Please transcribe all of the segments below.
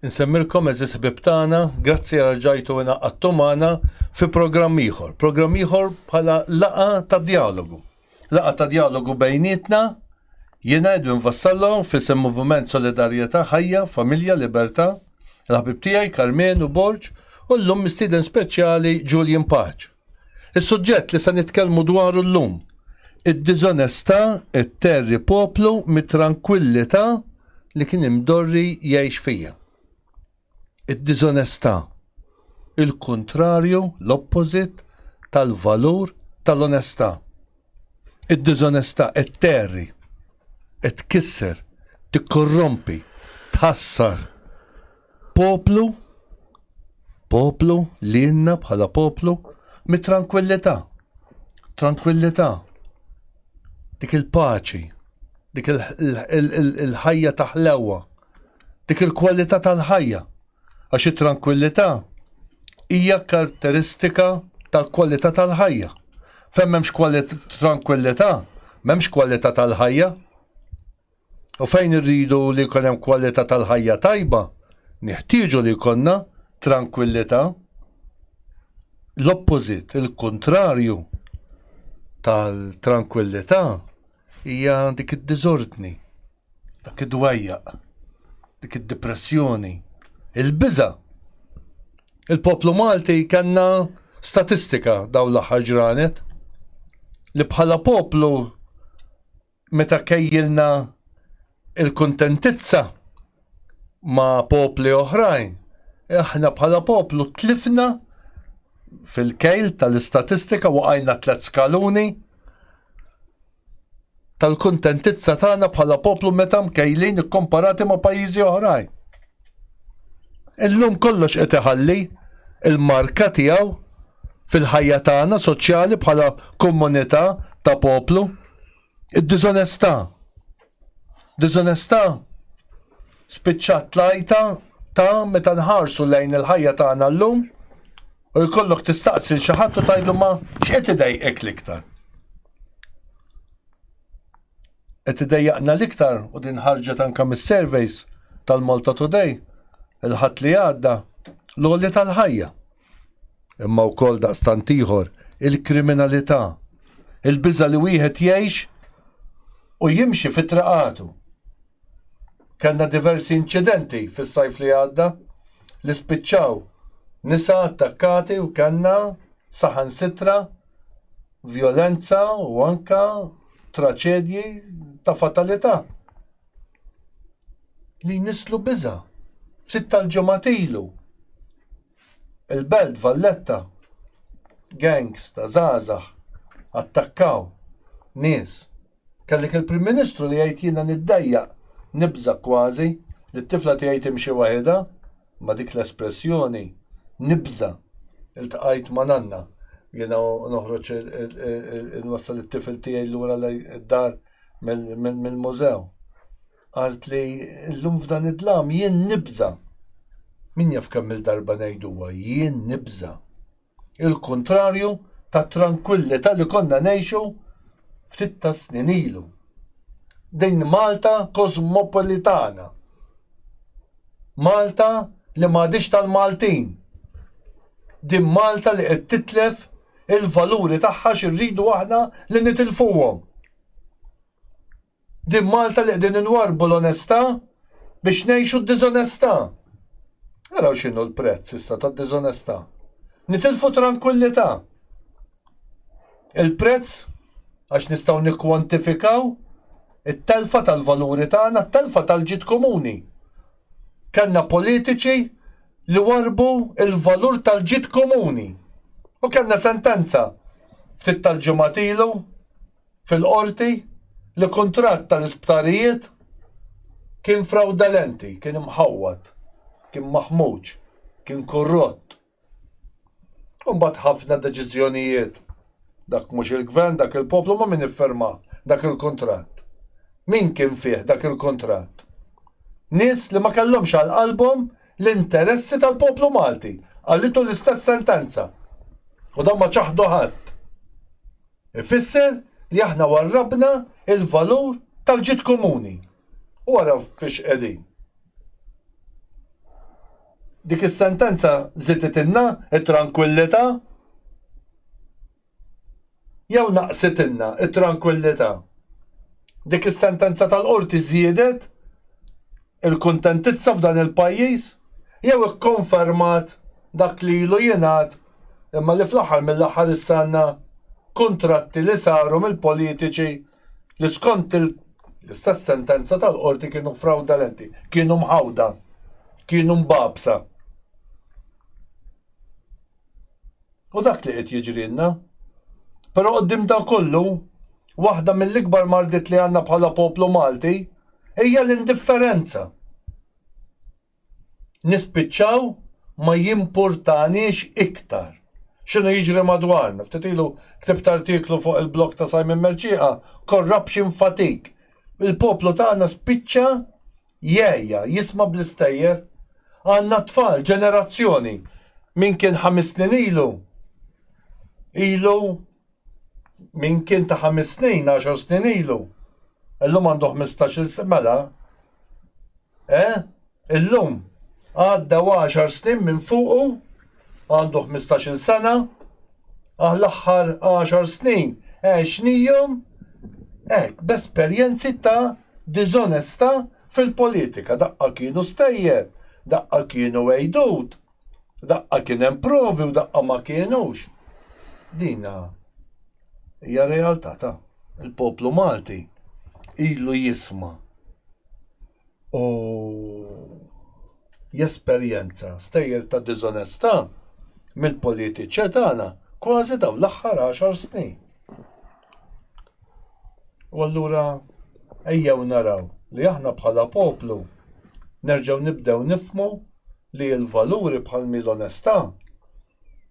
Nsemmilkom eżis ħbib tagħna, grazzi għal ġajtu għina għattumana fi programm ieħor. Programm ieħor bħala laqa ta' dialogu. Laqa ta' dialogu bejnietna, jiena Edwin Vassallo fissem Moviment Solidarjetà Ħajja, Familja, Libertà, l-ħbib tiegħi Karmen u Borġ u l-lum mistieden speċjali Julian Paċ. Is-suġġett li se nitkellmu dwaru llum, id-diżonestà qed terri poplu mit-trankwillità li kien imdorri jgħix fiha. Id-diżonestà, il-kuntrarju, l-oppożit tal-valur tal-onestà. Id-diżonestà qed terri, qed tkisser, tikkorrompi, tħassar. Poplu, poplu, lilna bħala poplu, mit-tranquillità. Tranquillità. Dik il-paċi, dik il-ħajja taħlewa, dik il-kwalità tal-ħajja. Għax it-tranquillità hija karatteristika tal-kwalità tal-ħajja. Fem memx tranquillità, memx kwalità tal-ħajja. U fejn irridu li jkun hemm kwalità tal-ħajja tajba, neħtieġu li jkollna trankwillità. L-oppożit, il-kuntrarju tal-trankwillità hija dik id-diżordni, dak id-dwejjaq, dik id-dipressjoni, il-biża'. Il-poplu Malti kellna statistika dawn l-aħħar ġranet li bħala poplu meta kejjilna il-kuntentizza ma' popli oħrajn, aħna bħala poplu tlifna fil-kejl tal-istatistika waqajna tliet skaluni tal-kuntentizza tagħna bħala poplu meta mkejlin ikkomparati ma' pajjiżi oħrajn. Illum kollox qed iħalli l-marka tiegħu fil-ħajja tagħna soċjali bħala komunità ta' poplu. Id-diżonestà. Diżonestà spiċċat tlajta ta' meta nħarsu lejn il-ħajja tagħna llum u jkollok tistaqsi xi ħadd u tgħidlu ma x'qed idejqek l-iktar. qed idejjaqna l-iktar u din ħarġet anke mis-surveys tal-Malta Today il-ħadd li għadda l-għoli tal-ħajja. Imma wkoll daqstant ieħor il-kriminalità, il-biża li wieħed jgħix u jimxi fi traqatu. Kellna diversi inċidenti fis-sajf li għadda li spiċċaw nisa attakkati u kellna saħan sitra vjolenza u anka traċedji ta' fatalità li jnisslu biża. Ftit tal-ġemat ilu il-belt Valletta gangs ta' zazax attakkaw nies Kellek il-Prim Ministru li jgħid jiena niddejjaq, nibża' kważi, li t-tifla tiegħi timxi waħidha, ma' dik l-espressjoni, nibża'. Iltqajt ma' nanna, jiena noħroġ inwassal it-tifel tiegħi lura d-dar mill-mużew. Qaltli, illum f'dan id-dlam jien nibża'. Min jaf kemm-il darba ngħiduha, jien nibża'. il-kuntrarju tat-trankwillità li konna ngħixu ftit tas-snin ilu. Din Malta kosmopolitana. Malta li m'għadhiex tal-Maltin. Din Malta li qed titlef il-valuri tagħha x'irridu aħna li nitilfuhom. Din Malta li qegħdin inwarrbu l-onestà biex ngħixu d-diżonestà. Araw x'inhu l-prezz issa tad-diżonestà. Nitilfu trankwillità. Il-prezz għax nistgħu nikkwantifikaw it-telfa tal-valuri tagħna, t-telfa tal-ġid komuni. Kellna politiċi li warbu il-valur tal-ġid komuni. U kellna sentenza ftit tal-ġimgħat ilu fil-Qorti li kuntratt tal-isptarijiet kien frawdalenti, kien imħawwad, kien maħmuġ, kien korrott. U mbagħad ħafna deċiżjonijiet, dak mhux il-Gvern, dak il-poplu, ma' min iffirma dak il-kuntratt? Min kien fih dak il-kuntratt? Nies li ma kellhomx għal qalbhom l-interessi tal-poplu Malti, qalitu l-istess sentenza. U dawn ma ċaħdu ħadd. Ifisser li aħna warrabna l-valur tal-ġid komuni. U ara fiex qegħdin. Dik is-sentenza żiditilna t-trankwillità jew naqsitilna t-trankwillità? Dik is-sentenza tal-Qorti żiedet il-kuntentizza f'dan il-pajjiż jew ikkonfermat dak li ilu jingħad imma li fl-aħħar mill-aħħar issa għandna kuntratti li saru mill-politiċi li skont l-istess sentenza tal-Qorti kienu frawdalenti, kienu mħawda, kienu mbagħbsa. U dak li qed jiġrilna. Però quddiem dan kollu, waħda mill-ikbar mardiet li għandna bħala poplu Malti hija l-indifferenza. Nispiċċaw ma jimpurtaniex iktar x'inhu jiġri madwarna. Ftit ilu ktibt artiklu fuq il-blog ta' Simon Mercieqa, Corruption Fatigue. Il-poplu tagħna spiċċa Jeeja, jisma' bl-istejjer. Għandna tfal, ġenerazzjoni. Min kien ħames snin ilu, ilu, min kien ta' ħames snin, għaxar snin ilu, illum għandu ħmistax-il sena, mela, eh? Illum, għaddew għaxar snin minn fuqu Għandu ħmistax-il sena, ah l-aħħar għaxar snin għexnihom hekk b'esperjenzi ta' diżonestà fil-politika, daqqa kienu stejjer, daqqa kienu għejdut, daqqa kien hemm provi u daqqa ma kienux. Din hija realtà ta' il-poplu Malti ilu jisma' u jesperjenza stejjer ta' diżonestà mill-politiċja tagħna kważi dawn l-aħħar għaxar snin. U allura ejjew naraw li aħna bħala poplu nerġgħu nibdew nifmu li l-valuri bħal l-onestà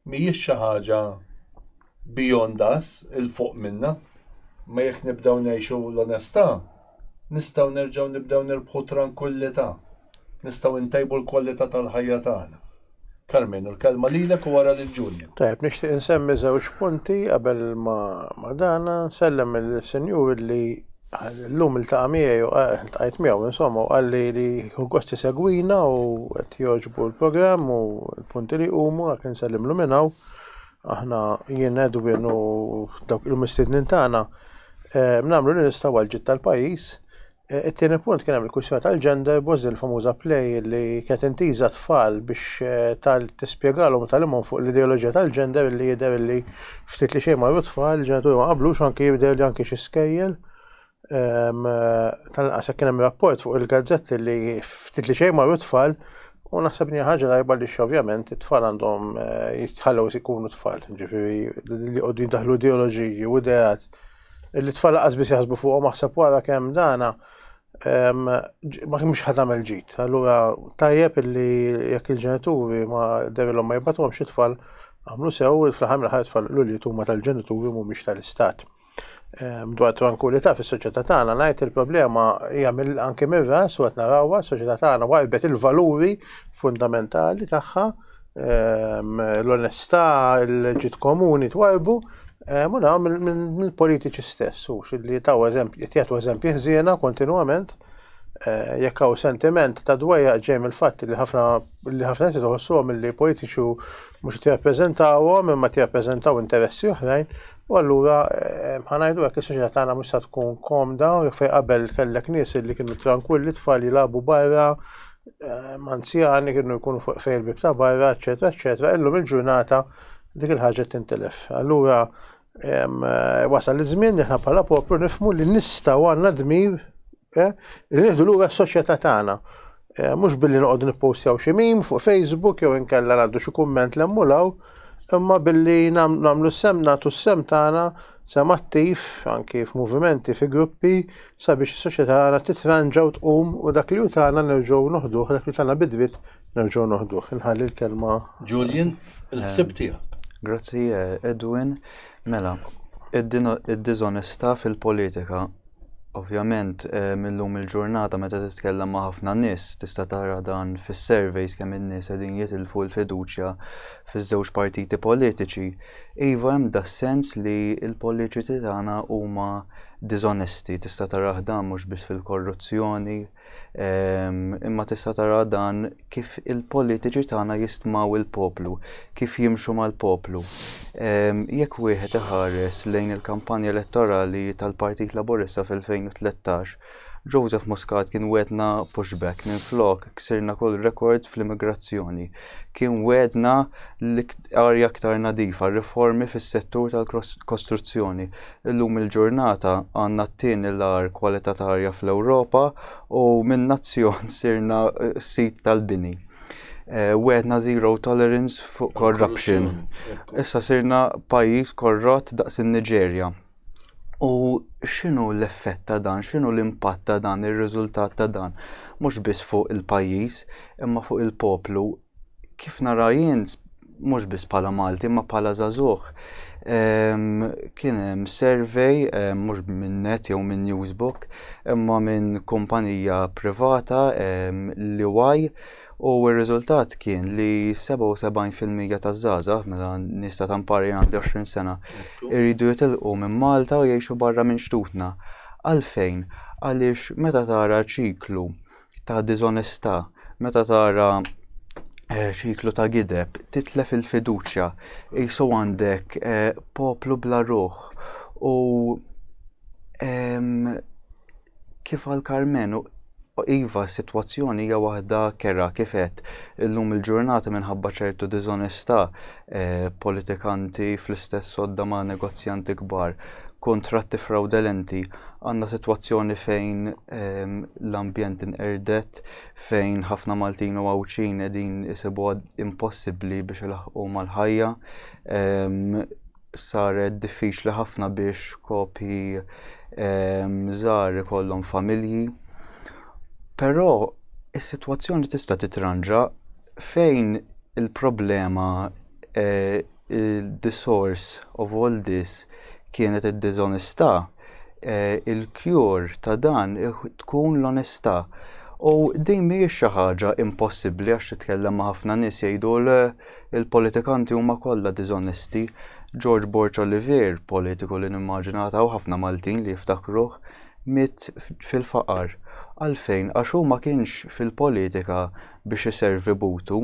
mhijiex xi ħaġa beyond us, il fuq minna, ma jekk nibdew ngħixu l-onestà, nistgħu nerġgħu nibdew nirbħu tranquillità, nistgħu ntejbu l-kwalità tal-ħajja tagħna. Carmen, u l-kelma lilek u wara lil Julia. Tajb, nixtieq insemmi żewġ punti qabel ma dana, nsellem il-senjur li Illum iltaqa' miegħi u ltqajt miegħu insomma u qalli li hu gost isegwina u qed jogħġbu l-programm u l-punti li jqumu għalhekk insellimlu minn hawn. Aħna jien Edwin u dawk il-mistednin tagħna eh, nagħmlu li nistgħu għal ġid tal-pajjiż. Eh, It-tieni punt kien hemm il-kwistjoni tal-gender boss din il-famuża play li kienet intiża tfal biex eh, tal tispjegalhom u tagħlimhom fuq l-ideoloġija tal-gender li jidher li Ftit li xejn marru tfal, il-ġenituri ma qablux anki jibdew li anki xi skejjel. Ehm, tal-inqas kien hemm rapport fuq il-gazzetti li ftit li xejn marru tfal u naħseb li ħaġa tajba li ovvjament it-tfal għandhom eh, jitħallew ikunu tfal, ġifieri li qogħdu daħlu ideoloġiji u ideat li t-tfal qasbis jaħsbu fuqhom aħseb wara kemm dana ma kimx ħad għamel ġit. Allura tajjeb illi jekk il-ġenituri ma derilhom ma jibatuhom xi tfal għamlu sew il-flaħam li ħajt tfal l huma tal-ġenituri mhumiex tal-istat. Dwar tranquillità fis-soċjetà tagħna ngħid il-problema hija anke mir-ras u qed narawha s-soċjetà tagħna warbet il-valuri fundamentali tagħha ehm, l-onestà, il-ġid komuni twajbu, ehm, u dawn mill-politiċi stess, u li taw eżempji, jtijatu eżempji ħżiena kontinuament, eh, jekk hawn sentiment ta' dwejja ġej mill-fatt li ħafna li ħafna nies iħossuhom li politiċi mhux qed jappreżentawhom imma qed jappreżentaw interessi oħrajn, U allura eh, ħanajdu għek il-soċieta tagħna mhux se tkun komda u jekk qabel kellek nies li kienu tranquilli tfal jilagħbu barra eh, anzjani kienu jkunu fuq fejn il-bib ta' barra, eċetera, eċetera, illum il-ġurnata dik il-ħaġa tintelef. Allura eh, wasal iż-żmien li ħna bħala poplu nifmu li nistgħu għandna dmir eh, li nieħdu lura s-soċjetà tagħna. Mhux billi noqogħdu nippostjaw xi mim fuq Facebook jew inkella ngħaddu xi kumment l-emmulaw, imma billi namlu sem natu sem tagħna Sam attiv, anki f'movimenti, fi gruppi, sabiex is-soċjetà għana titranġa u tqum u dak li utana nerġgħu noħduh, dak li utana bidwit nerġgħu noħduh. Inħalli l-kelma. Julian, il-ħsib ehm, tiegħek. Grazzi eh, Edwin. Mela, id-dizonesta fil-politika Ovvjament, illum il-ġurnata meta titkellem ma' ħafna nies tista' tara dan fis-surveys kemm in-nies qegħdin jitilfu l-fiduċja fiż-żewġ partiti politiċi. Iva hemm das-sens li l-politiċi tagħna huma diżonesti, tista' tarah dan mhux biss fil-korruzzjoni, imma tista' tara dan kif il-politiċi tagħna jistmaw il-poplu, kif jimxu mal-poplu. Jekk wieħed iħares lejn il-kampanja elettorali tal-Partit Laburista fil-2013, Joseph Muscat kien wedna pushback minn flok ksirna kull rekord fl-immigrazzjoni. Kien wedna l-arja aktar nadifa, riformi fis-settur tal-kostruzzjoni. Illum il-ġurnata għandna t-tieni l-agħar kwalità ta' arja fl-Ewropa u minn nazzjon sirna sit tal-bini. Eh, wedna zero tolerance fuq corruption. Issa sirna pajjiż korrott daqs in-Niġerja. U x'inhu l-effett ta' dan, x'inhu l-impatt ta' dan, ir-riżultat ta' dan, mhux biss fuq il-pajjiż, imma fuq il-poplu, kif nara jien mhux biss bħala Malti imma bħala żagħżugħ. Kien hemm survey mhux minn net jew minn Newsbook imma minn kumpanija privata li waj u r-riżultat kien li 77% taż-żgħażagħ meta nista ta' mpari għandi 20 sena jridu jitilqu minn Malta u jgħixu barra minn xtutna. Għalfejn? Għaliex meta tara ċiklu ta' diżonestà, meta tara eh, ċiklu ta' gideb, titlef il-fiduċja, jisu għandek eh, poplu bla ruħ u kif għal Carmen Iva, situazzjoni hija waħda kera kifet illum il-ġurnata minħabba ċertu diżonestà politikanti fl-istess għodda ma' negozjanti kbar, kuntratti frawdelenti, għandna sitwazzjoni fejn ehm, l-ambjent inqerdet, fejn ħafna Maltin u Għawdxin qegħdin isibu impossibbli biex ilaħqu mal-ħajja, ehm, saret diffiċli ħafna biex kopi ehm, żgħar ikollhom familji. Però is-sitwazzjoni tista' titranġa Fejn il-problema the source of all this kienet id-diżonestà, il-cure ta' dan tkun l-onestà. U din mhijiex xi ħaġa impossibbli għax titkellem ma' ħafna nies jgħidu le l-politikanti huma kollha diżonesti. George Borg Olivier, politiku li nimmaġina għad hawn ħafna Maltin li jiftakruh, miet fil-faqar. Għalfejn? Għax hu ma kienx fil-politika biex iservi butu,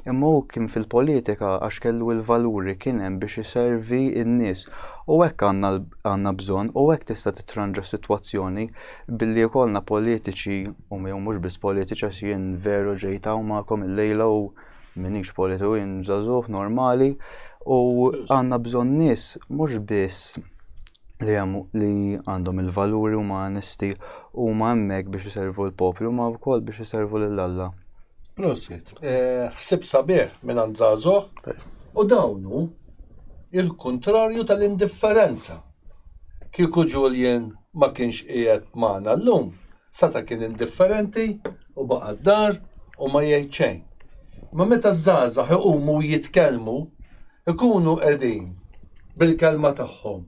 imma hu kien fil-politika għax kellu l-valuri kien hemm biex iservi n-nies. U hekk għandna bżonn u hekk tista' titranġa sitwazzjoni billi jkollna politiċi u jew mhux biss politiċi għax jien veru ġejt hawn magħkom illejla u minix politiku jien żagħżugħ normali u għandna bżonn nies mhux biss li hemm li għandhom il-valuri huma onesti huma hemmhekk biex iservu l-poplu ma wkoll biex iservu lil Alla. Prosit, eh, ħsib sabiħ minn għandżażoħ u dawnu il-kontrarju tal-indifferenza. Kieku Julian ma kienx qiegħed magħna llum, Sata kien indifferenti u baqa' d-dar u ma jgħid xejn. Imma meta ż-żgħażagħ iqumu u jitkellmu, ikunu qegħdin bil-kelma tagħhom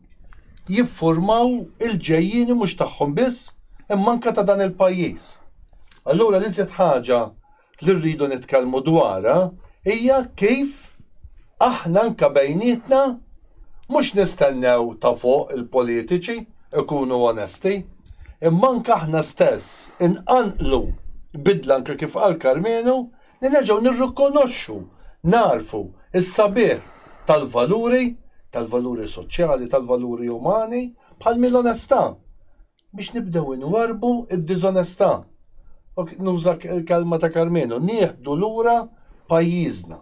jiffurmaw il-ġejjieni mhux tagħhom biss imma anke ta' dan il-pajjiż. Allura l-iżjed ħaġa li rridu nitkellmu dwarha hija kif aħna anke bejnietna mhux nistennew ta' fuq il-politiċi jkunu onesti, imma anke aħna stess inqanqlu bidla anke kif qal Karmenu li nerġgħu nirrikonoxxu, nagħrfu s-sabiħ tal-valuri, tal-valuri soċjali, tal-valuri umani bħal mi l-onestà. biex nibdew inwarrbu d-diżonestà, u nuża l-kelma ta' Karmenu, nieħdu lura pajjiżna.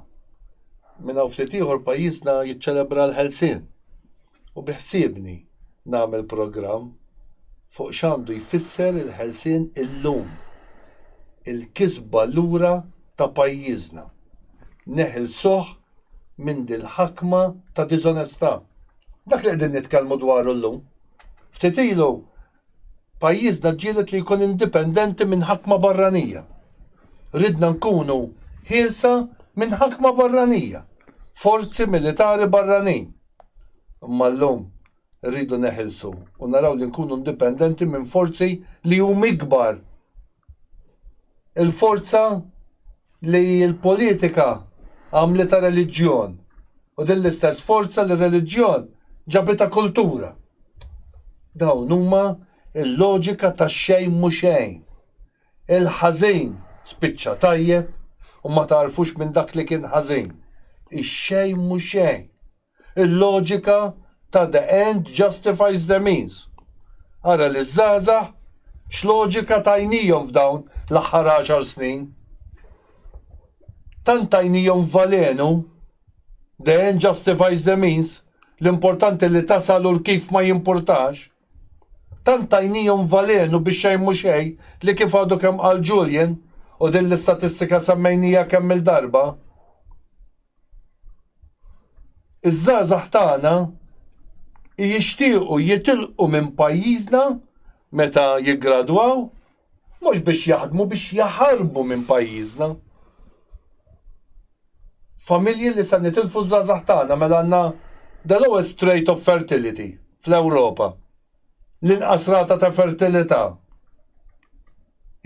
Minn hawn ftit ieħor pajjiżna jiċċelebra l-Ħelsien u biħsiebni nagħmel programm fuq x'għandu jfisser il-ħelsien illum, il-kisba lura ta' pajjiżna. Neħilsuh minn dil-ħakma ta' diżonestà. Dak li qegħdin nitkellmu dwaru llum. Ftit ilu pajjiżna ġġieled li jkun indipendenti minn ħakma barranija. Ridna nkunu ħielsa minn ħakma barranija, forzi militari barranin. Imma llum rridu neħilsu u naraw li nkunu indipendenti minn forzi li hum ikbar. Il-forza li l-politika għamlitha reliġjon u din l-istess forza li r-reliġjon ġabitha kultura. Dawn huma il-loġika ta' xejn mhu xejn. Il-ħażin spiċċa tajjeb u ma tagħrfux minn dak li kien ħażin. Ix-xejn mhu xejn. Il-loġika ta' the end justifies the means. Ara liż-żgħażagħ x'loġika tajnihom f'dawn l-aħħar għaxar snin. Tant tajnihom valenu, the end justifies the means, l-importanti li tasal u l-kif ma jimpurtax. Tant tajnihom valenu bix-xejn mhu xejn li kif għadu kemm qal Julian, u din l-istatistika semmejniha kemm-il darba, Iż-żgħażagħ tagħna jixtiequ jitilqu minn pajjiżna meta jiggradwaw, mhux biex jaħdmu, biex jaħarbu minn pajjiżna. Familji li se nitilfu ż-żgħażagħ tagħna mela għandna the lowest rate of fertility fl-Ewropa. l-inqas rata ta' fertilità,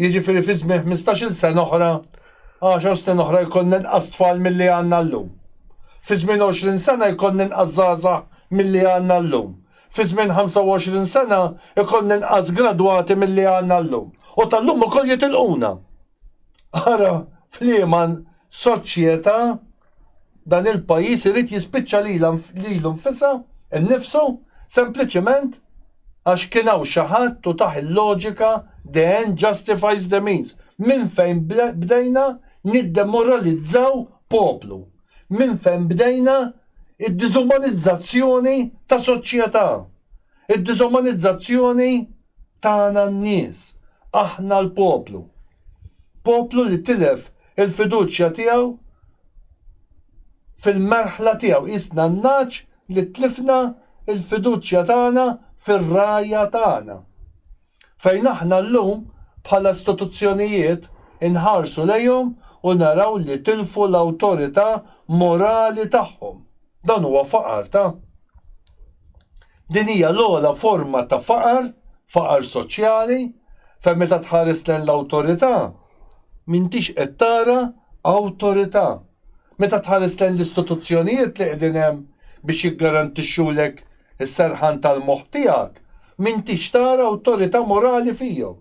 jiġifieri fi żmien ħmistax-il sena oħra, għaxar snin oħra jkollna inqas tfal milli għandna llum. Fi żmien għoxrin sena jkollna inqas żgħażagħ milli għandna llum. Fi żmien ħamsa u għoxrin sena jkollna inqas gradwati milli għandna llum. U tal-lum ukoll jitilquna. Ara f'liema soċjetà Dan il-pajjiż irid jispiċċa lilha lilu nfisha, innifsu, sempliċiment għax kien hawn xi ħadd u tah il-loġika the end justifies the means. Minn fejn bdejna niddemoralizzaw poplu? Minn fejn bdejna d-diżumanizzazzjoni ta' soċjetà? Id-diżumanizzazzjoni tagħna n-nies, aħna l-poplu. Poplu li tilef Il-fiduċja tiegħu fil-merħla tiegħu. Qisna n-nagħaġ li tlifna l-fiduċja tagħna fir-Ragħajja tagħna. Fejn aħna llum, bħala istituzzjonijiet, inħarsu lejhom u naraw li tilfu l-awtorità morali tagħhom. Dan huwa faqar ta'. Din hija l-ogħla forma ta' faqar, faqar soċjali, fejn meta tħares lejn l-awtorità, M'intix qed tara awtorità. Meta tħares lejn l-istituzzjonijiet li qegħdin hemm biex jiggarantixxulek is-serħan tal-moħħ tiegħek, m'intix tara awtorità morali fihom.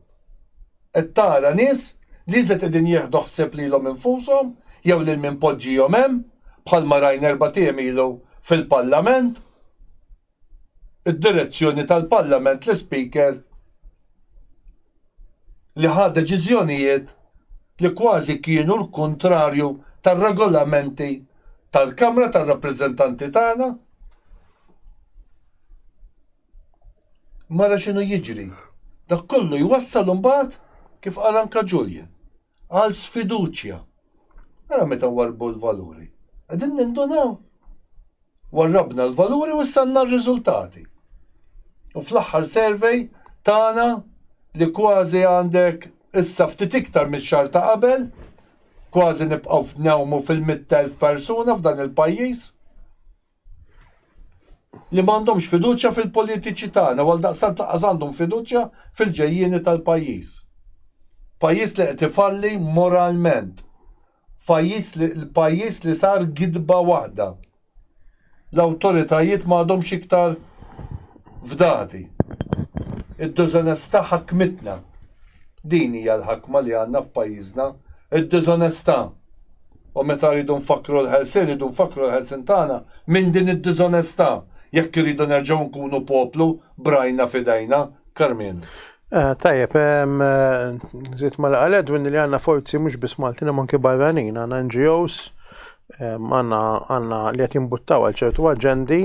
Qed tara nies li iżjed qegħdin jieħdu ħsieb lilhom infushom jew lil min poġġihom hemm, bħalma rajna erbat' ijiem ilu fil-Parlament. id-direzzjoni tal-Parlament l-Ispeaker li ħa deċiżjonijiet li kważi kienu l-kuntrarju tar-regolamenti tal-Kamra tar-Rappreżentanti tagħna. Mara x'inhu jiġri. Dak kollu jwassal imbagħad kif qal anke Julian. għal sfiduċja. Ara meta nwarrbu l-valuri. Qegħdin nindunaw? Warrabna l-valuri u issa għandna r-riżultati. U fl-aħħar survey tagħna li kważi għandek issa ftit iktar mix-xahar ta' qabel, kważi nibqgħu f'newmu fil-mitt elf persuna f'dan il-pajjiż. li ma għandhomx fiduċja fil-politiċi tagħna u għaldaqstant lanqas għandhom fiduċja fil-ġejjieni tal-pajjiż. Pajjiż li qed ifalli moralment. Pajjiż li l-pajjiż li sar gidba waħda. L-awtoritajiet ma għadhomx iktar fdati. Id-diżonestà ħakmitna. Din hija l-ħakma li għandna f'pajjiżna, id-diżonestà. U meta rridu nfakkru l-ħelsien, rridu nfakkru l-ħelsien tagħna minn din id-diżonestà, jekk irridu nerġgħu nkunu poplu b'rajna f'idejna. Carmine. Tajjeb, nżid ma' li qal Edwin li għandna forzi mhux biss Maltin imma anki barranin, għandna NGOs, għandna għandna li qed jimbuttaw għal ċertu aġendi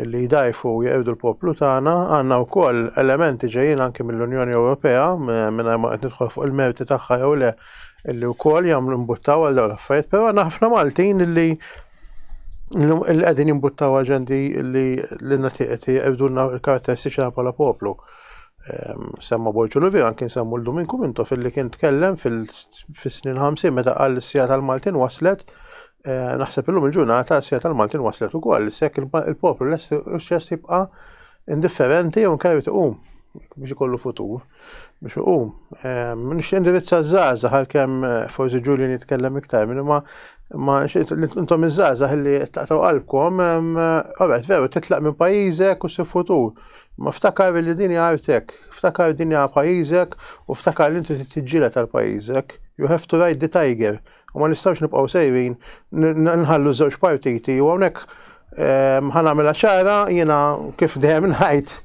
li jdgħajfu u jeqirdu l-poplu tagħna, għandna wkoll elementi ġejjin anki mill-Unjoni Ewropea mingħajr ma qed nidħol fuq il-merti tagħha jew le, illi wkoll jagħmlu mbuttaw għal dawn l-affarijiet, però għandna ħafna Maltin illi illi qegħdin jimbuttaw aġendi illi li nagħti qed jibdulna l-karatteristiċi bħala poplu. Ehm, semma Borġu Luvi anke nsemmu l-Dominku Minto fil-li kien tkellem fil-snin 50 meta qal l-sija tal-Maltin waslet eh, naħseb illum il-ġurnata s-sija tal-Maltin waslet ukoll, sekk il-poplu l-est jibqa' indifferenti jew nkajr tiqum biex ikollu futur. biex uqum. Ehm, nix indirizza zaza għal-kem eh, forsi ġuli nitkellem iktar minn ma ma intom iż-żaza li taqtaw qalbkom, ehm, għabet veru titlaq minn pajizek u si futur. Ma ftakar li dini għartek, ftakar dini għal pajizek u ftakar li inti t-tġila tal-pajizek. You have to ride the tiger. U ma nistgħux nibqgħu sejrin nħallu żewġ partiti u hawnhekk ehm, ħanamela ċara jiena kif dejjem ngħid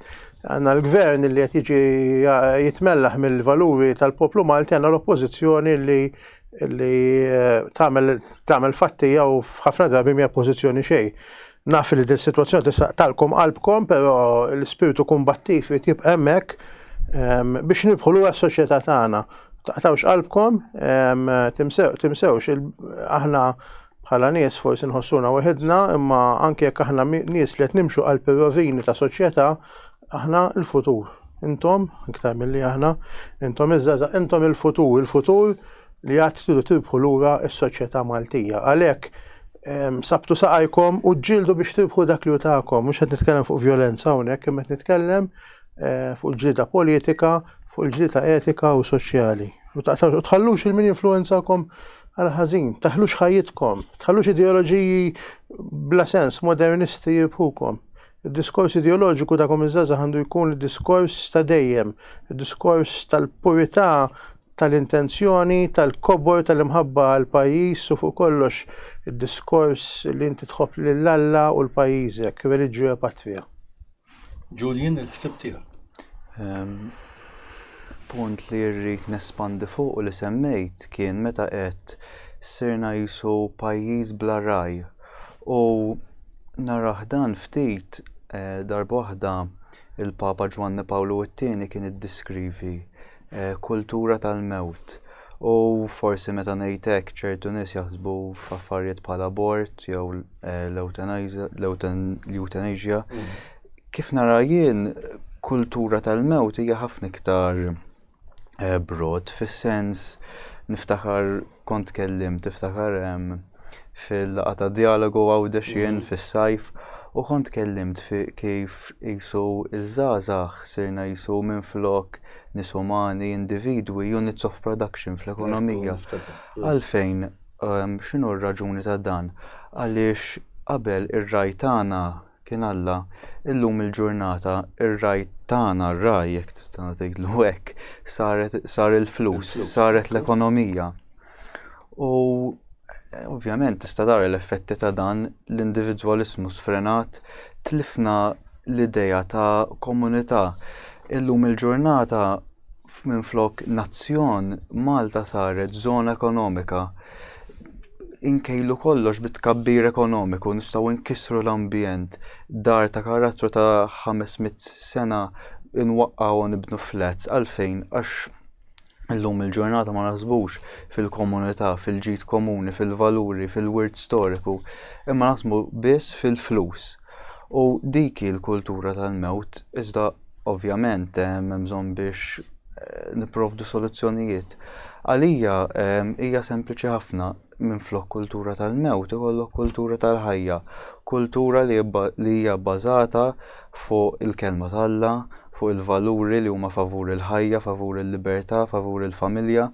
għanna l-gvern li qed jiġi jitmellaħ mill-valuri tal-poplu Malti għanna l-oppozizjoni li li eh, tagħmel fattija u f'ħafna drabi mija pożizzjoni xejn. Naf li dil-sitwazzjoni tista' tqtgħalkom qalbkom, però l-ispirtu kumbattiv irid jibqa' hemmhekk biex nirbħu lura s-soċjetà tagħna. Taqtgħux qalbkom, timsewx, aħna bħala nies forsi nħossuna weħidna, imma anke jekk aħna nies li qed nimxu qalb ir-rovini ta' soċjetà, Aħna l-futur. Intom, iktar milli aħna, intom iż-żaza, intom il-futur, il-futur li għad tidu tirbħu lura s-soċjetà Maltija. Għalhekk sabtu saqajkom u ġildu biex tirbħu dak li utakom, mhux qed nitkellem fuq violenza hawnhekk, imma qed nitkellem eh, fuq il-ġlida politika, fuq il-ġlida etika u soċjali. U tħallux il-min influenzakom għal ħażin, taħlux ħajjitkom, taħlux ideoloġiji bla sens modernisti jibħukom. Id-diskors ideoloġiku ta' kull żgħażagħ għandu jkun id-diskors ta' dejjem, id-diskors tal-purità tal-intenzjoni, tal-kobor, tal-imħabba għall-pajjiż u fuq kollox id-diskors li inti tħobb lil Alla u 'l pajjiżek, religio patria. Julian, il-ħsieb tiegħek. Ehm, punt li rrid nespandi fuq u li semmejt kien meta qed sirna qisu pajjiż bla ragħaj. U narah dan ftit, darba waħda il-Papa Ġwanni Pawlu t-Tieni kien iddiskrivi kultura tal-mewt. U forsi meta ngħid hekk ċertu nies jaħsbu f'affarijiet bħal abort jew l-euthanasia. Kif nara jien kultura tal-mewt hija ħafna iktar broad fis-sens niftakar Kont tkellimt, tiftakar, fil-laqgħa ta' djalogu Għawdex jien fis-sajf u kont tkellimt fi kif qisu ż-żgħażagħ sirna qisu minflok nies umani, individwi, units of production fl-ekonomija. Għalfejn, x'inhu r-raġuni ta' dan? Għaliex qabel ir-ragħaj tagħna Kien Alla, illum il-ġurnata r-ragħaj tagħna, r-ragħaj jekk tista' tgħidlu hekk, saret sar il-flus, saret l-ekonomija. U ovvjament tista' tara l-effetti ta' dan l-individwaliżmu sfrenat tlifna l-idea ta' komunità. Illum il-ġurnata f'minflok nazzjon, Malta saret żona ekonomika. Inkejlu kollox bit-tkabbir ekonomiku nistgħu nkissru l-ambjent, dar ta' karattru ta' 500 sena nwaqqgħu u nibnu flats għalfejn għax illum il-ġurnata ma naħsbux fil-komunità, fil-ġid komuni, fil-valuri, fil-wirt storiku, imma naħsbu biss fil-flus. U dik hi l-kultura tal-mewt, iżda ovvjament hemm bżonn biex nipprovdu soluzzjonijiet. Għalija hija sempliċi ħafna minflok kultura tal-mewt ikollok kultura tal-ħajja, kultura li hija bbażata fuq il-kelma t'Alla, fuq il-valuri li huma favur il-ħajja, favur il-libertà, favur il-familja,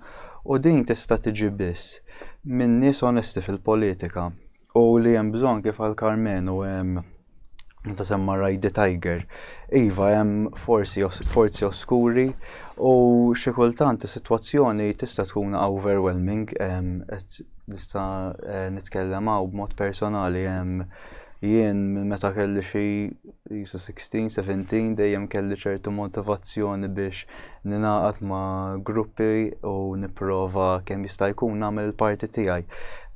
u din tista' tiġi biss minn nies onesti fil-politika. U li hemm bżonn kif għal Karmenu hemm meta semma Ride the Tiger. Iva hemm forsi forzi oskuri u xi kultant is-sitwazzjoni tista' tkun overwhelming qed nista' eh, nitkellem hawn b'mod personali hemm jien meta kelli xi Isu 16, 17 dejjem kelli ċertu motivazzjoni biex ninaqat ma' gruppi u nipprova kemm jista' jkun nagħmel il-parti tiegħi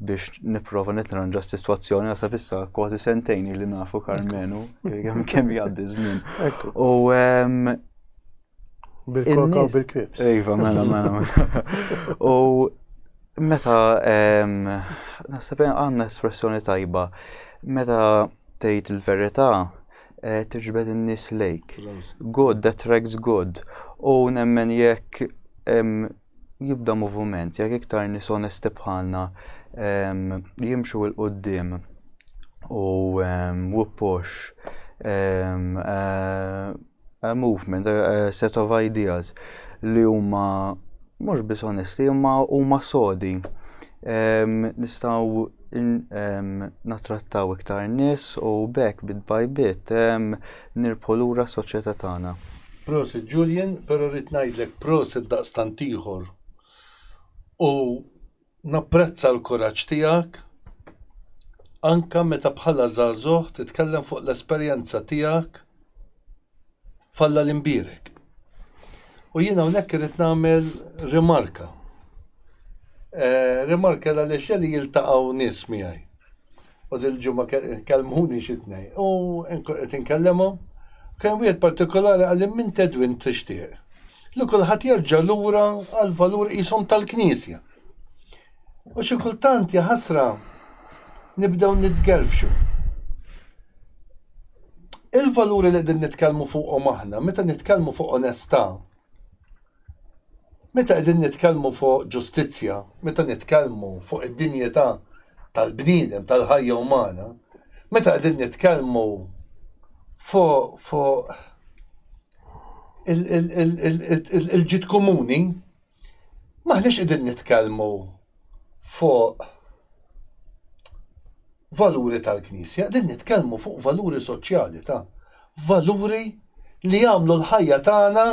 biex nipprova nitranġa s-sitwazzjoni għasab issa kważi sentejn li nafu Karmenu kemm jgħaddi żmien. U Bil-koka u bil-krips. Iva, mela, mela, mela. U meta, naħseb għandna espressjoni tajba, meta tgħid il-verità, eh, tiġbed in-nies lejk. God that tracks God. U nemmen jekk jibda movument, jekk iktar nies onesti bħalna jimxu il qudiem u wippox a movement, a set of ideas li huma mhux biss onesti imma huma sodi. Nistgħu natrattaw iktar nies u bekk bit by bit Nirbħu lura s-soċjetà tagħna. Prosit Julian, pero rrid ngħidlek prosit daqstant ieħor u napprezza l-kuraġġ tiegħek anke meta bħala żagħżugħ titkellem fuq l-esperjenza tiegħek f'Alla l-Imbierek. U jien hawnhekk irrid nagħmel rimarka. Eh, rimarka għaliex jeli jiltaqgħu nies miegħi. U dil-ġimgħa kellmuni xi tnejn u qed inkellimhom u kien hemm wieħed partikolari qal li minn Tedwin tixtieq li kulħadd jerġa' lura għall-valuri qishom tal-Knisja. U xi kultant jaħasra nibdew nitgerfxu. Il-valuri li qegħdin nitkellmu fuqhom aħna, meta nitkellmu fuq onestà, Meta qegħdin nitkellmu fuq ġustizzja, meta nitkellmu fuq id-dinjità tal-bniedem, tal-ħajja umana, meta qegħdin nitkellmu fuq fu il-ġid komuni, maħniex qegħdin nitkellmu fuq valuri tal-Knisja, qegħdin nitkellmu fuq valuri soċjali ta' valuri li jagħmlu l-ħajja tagħna,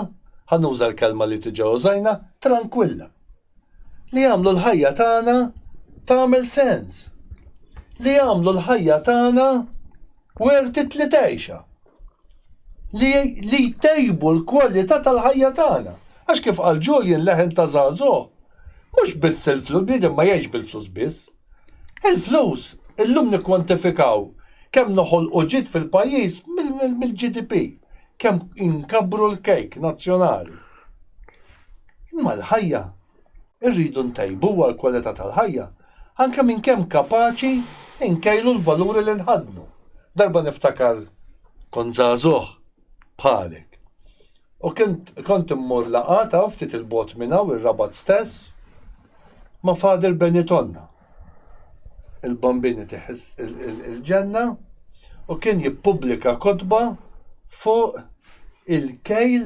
ħanuża l-kelma li tiġa użajna, tranquilla. Li jagħmlu l-ħajja tagħna tagħmel sens. Li jagħmlu l-ħajja tagħna Wertiet li tgħixha. Li li jtejbu l-kwalità tal-ħajja tagħna. Għax kif qal Julian leħen ta' żagħżugħ, mhux biss il-flus, bniedem ma jgħixx bil-flus biss. Il-flus, illum nikkwantifikaw kemm noħolqu ġid fil-pajjiż mill-GDP, kemm inkabbru l-kejk nazzjonali. Imma l-ħajja Irridu ntejbuha l-kwalità tal-ħajja anke minn kemm kapaċi nkejlu l-valuri li nħaddnu. Darba niftakar kont żagħżugħ bħalek u kont immur laqgħat hawn ftit 'il bogħod minn hawn ir-Rabat stess ma' Father Benitonna, il-Bambin itih il-ġenna u kien jippubblika kotba fuq il-kejl,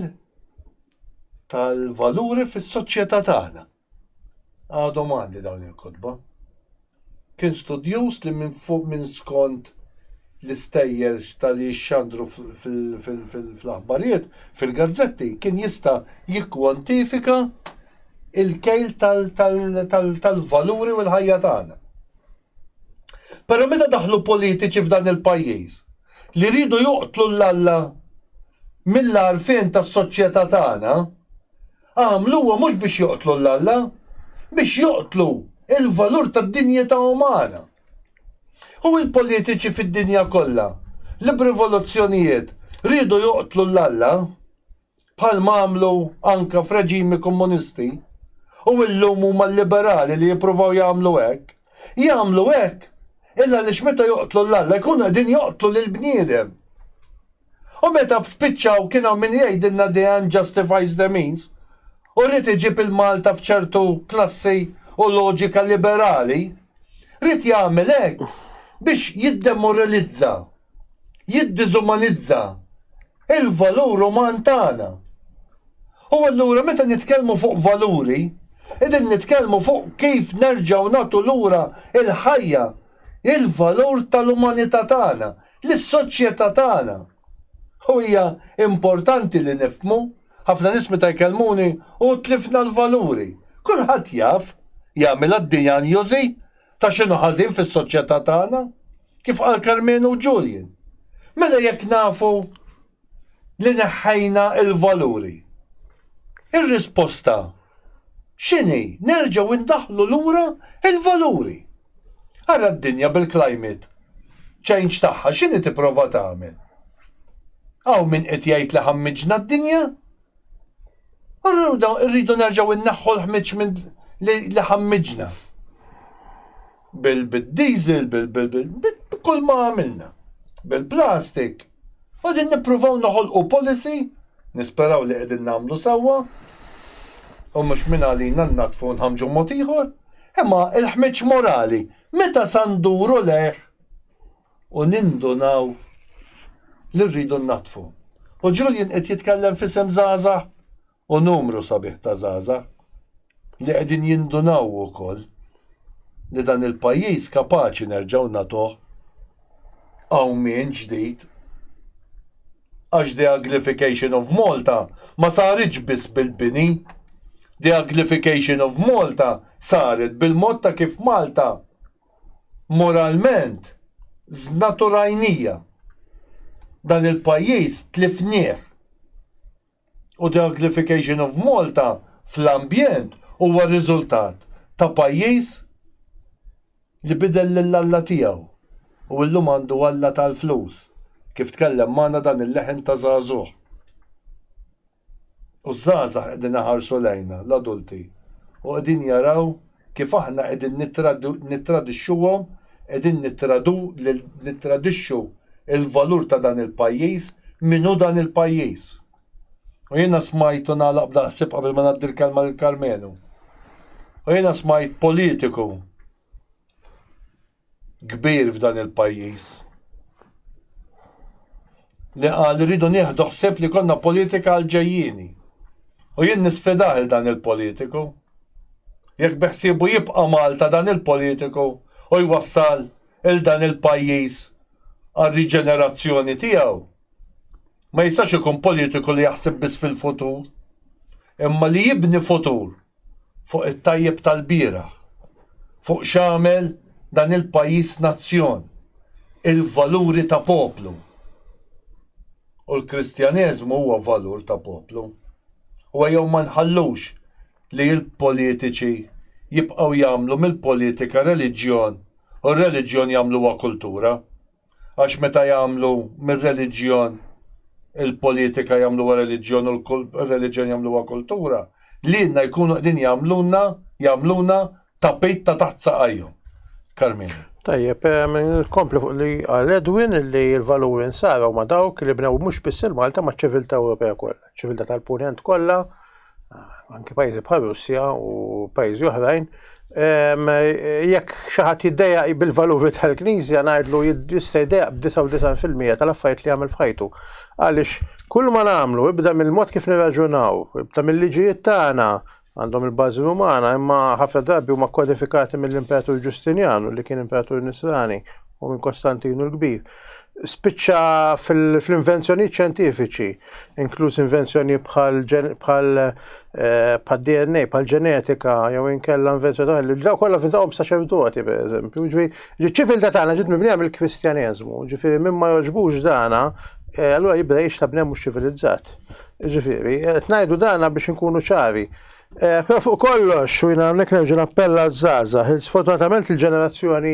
tal-valuri fis-soċjetà tagħna. Għadhom għandi dawn il-kotba. Kien studjuż li minn fuq minn skont l-istejjer tal-li jixxandru fl-aħbarijiet, fil-gazzetti, kien jista' jikkwantifika il-kejl tal-valuri u l-ħajja tagħna. Pero meta daħlu politiċi f'dan il-pajjiż li riedu joqtlu 'l Alla mill-għarfien tas-soċjetà tagħna, għamluha mhux biex joqtlu 'l Alla, biex joqtlu l-valur tad-dinjità umana. U l-politiċi fid-dinja kollha li b'rivoluzzjonijiet riedu joqtlu 'l Alla, bħalma għamlu anke f'reġimi Komunisti, u illum huma l-liberali li jippruvaw jagħmlu hekk. Jagħmlu hekk il għaliex meta joqtlu 'l Alla jkunu qegħdin joqtlu lill-bniedem. U meta spiċċaw kien hawn min jgħidilna the end justifies the means u ried iġib il-Malta f'ċertu klassi u loġika liberali, ried jagħmel hekk biex jiddemoralizza. jiddiżumanizza l-valur uman tagħna. U allura meta nitkellmu fuq valuri, qegħdin nitkellmu fuq kif nerġgħu nagħtu lura l-ħajja, il-valur tal-umanità tagħna, lis-soċjetà tagħna. U hija importanti li nifhmu, ħafna nies meta jkellmuni, 'u tlifna l-valuri'. Kulħadd jaf, jagħmilha d-dijanjosi. Ta' x'inhu ħażin fis-soċjetà tagħna? Kif qal Karmenu u Julian, mela jekk nafu li neħħejna l-valuri, ir-risposta x'inhi? Nerġgħu ndaħħlu lura l-valuri! Ara d-dinja bil-climate change tagħha x'inhi tipprova tagħmel? Hawn min qed jgħid li ħammiġna d-dinja? Allura rridu nerġgħu inneħħu l-ħmiġ li ħammiġna. Bil-diesel, b'kull ma għamilna. Bil-plastik. Qegħdin nippruvaw noħolqu policy, nisperaw li qegħdin nagħmlu sewwa, u mhux mingħalina nnaddfu u nħammġu mod ieħor, imma l-ħmiġ morali meta sa nduru lejh? u nindunaw li rridu nnaddfu. U Julian qed jitkellem f'isem żgħażagħ u numru sabiħ ta' żgħażagħ li qegħdin jindunaw ukoll li dan il-pajjiż kapaċi nerġgħu nagħtuh qawmien ġdid għax the uglification of Malta ma saritx biss bil-bini, the uglification of Malta saret bil-mod ta' kif Malta moralment żnaturajnija. Dan il-pajjiż tlifnieh. U the uglification of Malta fl-ambjent huwa riżultat ta' pajjiż li bidel lil Alla tiegħu u llum għandu Alla tal-flus, kif tkellem magħna dan il-leħen ta' żagħżugħ. U ż-żgħażagħ qegħdin iħarsu lejna, l-adulti, u qegħdin jaraw kif aħna qegħdin nittradixxuhom, qegħdin nittradixxu l-valur ta' dan il-pajjiż, min hu dan il-pajjiż. U jiena smajt, u nagħlaq b'dan il-ħsieb qabel ma ngħaddi l-kelma lil Karmenu, u jiena smajt politiku kbir f'dan il-pajjiż li qal rridu nieħdu ħsieb li konna politika għal ġejjini. U jien nisfidah il dan il-politiku. Jekk beħsibu jibqa' Malta dan il-politiku u jwassal il dan il-pajjiż għal riġenerazzjoni tiegħu. Ma jistax ikun politiku li jaħseb biss fil-futur, imma li jibni futur fuq it-tajjeb tal-bieraħ, fuq x'għamel dan il-pajjiż nazzjon, il-valuri ta' poplu. U l-Kristjaneżmu huwa valur ta' poplu. U ejjew ma nħallux li l-politiċi jibqgħu jagħmlu mill-politika reliġjon u r-reliġjon jagħmluha kultura. Għax meta jagħmlu mir-reliġjon il-politika jagħmluha reliġjon u r-reliġjon jagħmluha kultura, lilna jkunu qegħdin jagħmlulna, jagħmluna tapit ta' taħt saqajhom. Carmine. Tajjeb, nkompli fuq li għal Edwin li l-valuri nsara huma dawk li bnew mhux biss il-Malta ma' ċiviltà Ewropea kollha, ċiviltà tal-Punent kollha anki pajjiżi bħal Russja u pajjiżi oħrajn, jekk xi ħadd jiddejjaq bil-valuri tal-Knisja ngħidlu jista' jiddejjaq b'99% tal-affarijiet li jagħmel f'ħajtu. Għaliex kull ma nagħmlu ibda mill-mod kif nirraġunaw, ibda mill-liġijiet tagħna għandhom il-bażi Rumana, imma ħafna drabi huma kodifikati mill-Imperatur Ġustinjanu li kien Imperatur Nisrani u minn Kostantinu l-Kbir, spiċċa fl-invenzjonijiet xjentifiċi, inkluż invenzjoni bħal DNA, bħal ġenetika, jew inkella invenzjoni li daw kollha fintahom saċerdoti, per eżempju. Ġifieri ċiviltà tagħna ġiet mibnija mill-Kristjaneżmu, ġifieri minn ma jogħġbux dana, allura jibda jgħix ta' bnem mhux ċivilizzat. Ġifieri, qed ngħidu dana biex inkunu ċari. Però fuq kollox, u jiena hawnhekk nerġa' nappella għaż-żgħażagħ, il- sfortunatament il-ġenerazzjoni